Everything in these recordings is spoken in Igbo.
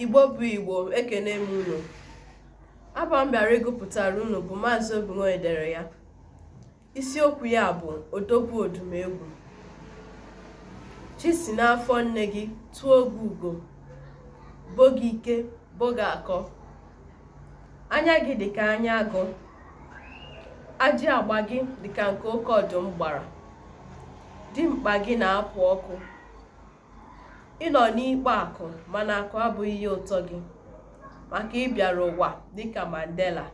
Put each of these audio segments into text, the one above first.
Igbo bụ Igbo ekene m unu abụ m bịara ịgụpụtara unu bụ maazị Obinwe dere ya isiokwu ya bụ odogwu Odumegwu chi si n'afọ nne gị tuo gị ugo bo gị ike bo gị akọ anya gị dịka anya agụ ajị agba gị dịka nke oke ọdụm gbara dimkpa gị na-apụ ọkụ ị nọ n'ikpo akụ mana akụ abụghị ihe ụtọ gị maka ị bịara ụwa dịka Mandela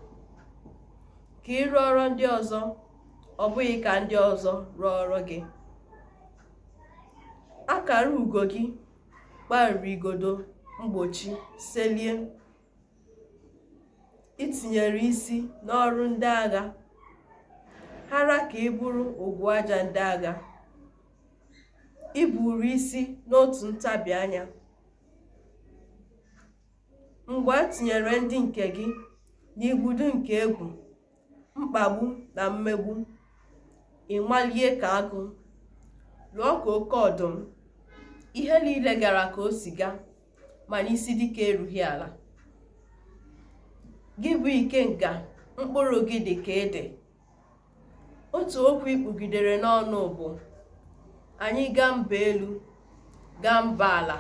ka ị rụọrọ ndị ọzọ ọ bụghị ka ndị ọzọ rụọrọ gị akara ugo gị kparịrị igodo mgbochi selie i tinyere isi n'ọrụ ndị agha hara ka ị bụrụ ogwu aja ndị agha ị bụrụ isi n'otu ntabi anya mgbe e tinyere ndị nke gị n'igbudu nke egwu mkpagbu na mmegbu ị malie ka agụ lụọ ka oke ọdụm ihe niile gara ka o si gaa mana isi dike erughị ala gị bụ Ikenga mkpụrụ gị dị ka ede otu okwu i kpugidere n'ọnụ bụ anyị gaa mba elu gaa mba ala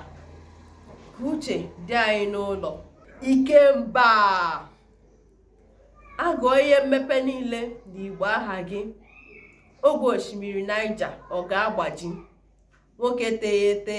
ka uche dị anyị n'ụlọ Ikemba a gụọ ihe mmepe niile na Igbo a haa gị ogwe osimiri Naịja ọ ga-agbaji nwoke teghete